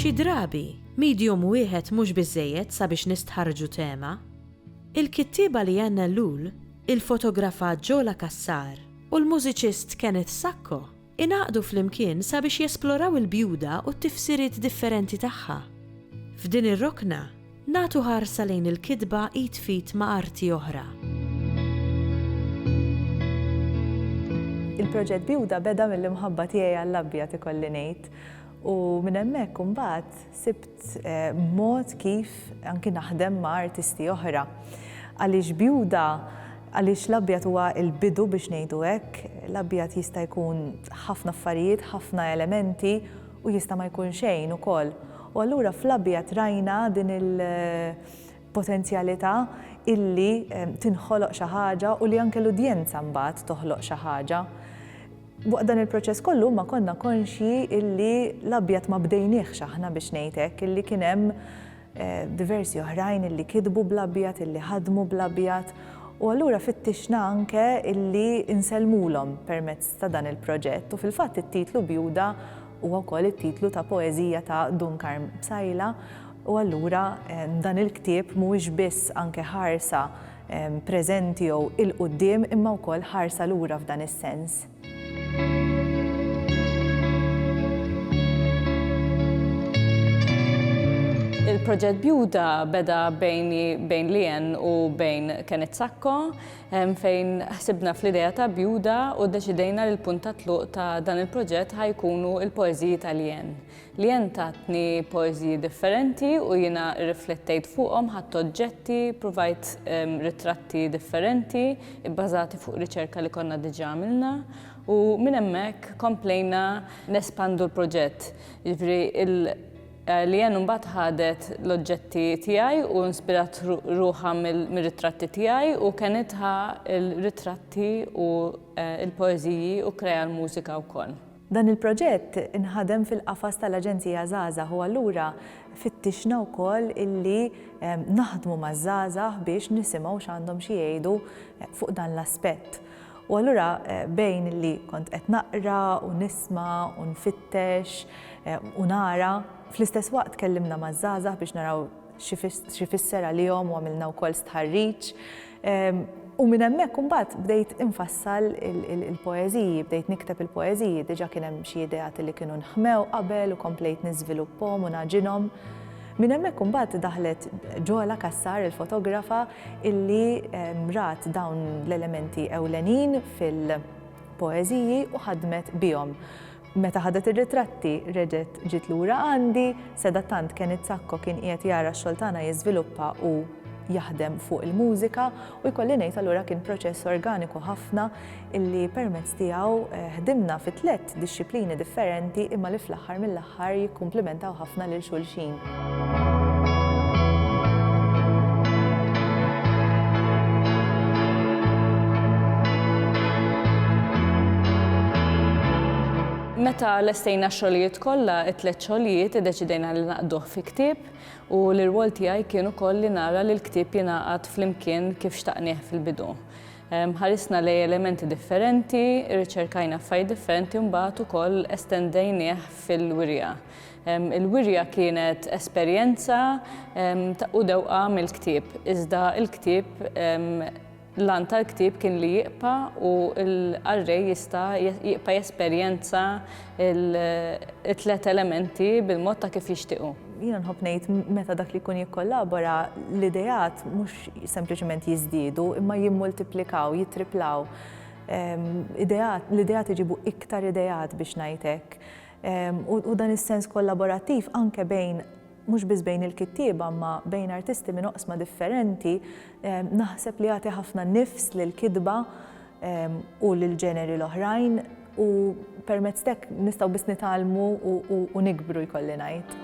Xi drabi, medium wieħed mhux biżżejjed sabiex nistħarrġu tema. Il-kittieba Leanne Ellul ilfotografat Jola Cassar. u l-mużiċist Kenneth Sacco ingħaqdu flimkien sabiex jesploraw il-bjuda u t-tifsiriet differenti tagħha. F'din ir-rokna, nagħtu ħarsa lejn il-kitba id f'id ma' arti oħra. Il-proġett Bjuda beda mill-imħabba tiegħi għall-abjad ikolli ngħid u minn hemmhekk imbagħad Sibt mod kif anki naħdem ma' artisti oħra. Għaliex bjuda, għaliex l-abjad huwa l-bidu biex ngħidu hekk, l-abjad jista' jkun ħafna affarijiet, ħafna elementi u jista' ma jkun xejn ukoll. U allura fl-abjad rajna din il-potenzjalità illi tinħoloq xi ħaġa u li anke l-udjenza mbagħad toħloq xi ħaġa. Waqt dan il-proċess kollu ma konna konxji illi l-abjad ma bdejniehx aħna biex ngħid hekk, illi kien hemm diversi oħrajn illi kitbu bl-abjad, illi ħadmu bl-abjad u allura fittixna anke illi nsellmulhom permezz ta' dan il-proġett u fil-fatt it-titlu Bjuda huwa wkoll it-titlu ta' poeżija ta' Dun Karm Psaila u allura dan il-ktieb mhuwiex biss anke ħarsa preżenti jew 'il quddiem imma wkoll ħarsa lura f'dan is-sens. Il-proġett Bjuda beda bejn Lien u bejn Kenneth Sacco fejn ħsibna fl-idea ta' Bjuda u deċidejna li l-punt ta' tluq ta' dan il-proġett ħajkunu il-poeżiji ta' Lien. Liane tatni poeżiji differenti u jiena rriflettejt fuqhom, ħadt oġġetti, pruvajt ritratti differenti bbażati fuq riċerka li konna diġà għamilna u minn hemmhekk komplejna nespandu l-proġett. Jiġifieri Liane mbagħad ħadet l-oġġetti tiegħi u inspirat ruħha mir-ritratti tiegħi u kenitha l-ritratti u l-poeżiji u kkrea l-mużika wkoll. Dan il-proġett inħadem fil-qafas tal-Aġenzija Żgħażagħ u allura fittixna wkoll illi naħdmu maż-żgħażagħ biex nisimgħu x'għandhom xi jgħidu fuq dan l-aspett. U allura bejn li kont qed naqra u nisma' u nfittex u nara, fl-istess waqt kellimna maż-żgħażagħ biex naraw x'ifisser għalihom u għamilna wkoll stħarriġ. Ehm, u minn hemmhekk imbagħad bdejt infassal il-poeżiji, bdejt nikteb il-poeżiji, diġà kien hemm xi ideat li kienu nħmew qabel u komplejt niżviluppom u naġinhom. Minn hemmhekk imbagħad daħlet ġola kassar il-fotografa illi ehm, rat dawn l-elementi ewlenin fil- poeżiji u ħadmet bihom. Meta ħadet ir-ritratti, reġgħet ġiet lura għandi, sedatant Kenneth Sacco kien qiegħed jara x-xogħol tagħna jiżviluppa u jaħdem fuq il-mużika u jkolli ngħid allura kien proċess organiku ħafna illi permezz tiegħu ħdimna fi tlett dixxiplini differenti imma li fl-aħħar mill-aħħar jikkumplimentaw ħafna lil xulxin. Meta lestejna x-xogħlijiet kollha, it-tliet xogħlijiet iddeċidejna li naqduh fi ktieb u l-irwol tiegħi kien ukoll li nara li l-ktieb jingħaqad flimkien kif xtaqnieh fil-bidu. Ehm, ħarisna lej elementi differenti, irriċerkajna f'fajt differenti mbagħad ukoll estendejnieh fil-wirja. Il-wirja kienet esperjenza u dewqa mill-ktieb, iżda l-ktieb, l-għan tal-ktieb kien li jibqa' u l-qarrej jista' jibqa' jesperjenza t-tliet elementi bil-mod ta' kif jixtieq hu. Jiena nħobb ngħid meta dak li jkun jikkollabora, l-ideat mhux sempliċement jiżdiedu imma jimmultiplikaw, jittriplaw. L-ideat iġibu iktar ideat biex ngħid hekk. u dan is-sens kollaborattiv anke bejn mhux biss bejn il-kittieba ma bejn artisti minn oqsma differenti, naħseb li jagħti ħafna nifs lil kitba u lil ġeneri l-oħrajn u permezz tek nistgħu biss nitgħallmu u nikbru jkolli ngħid.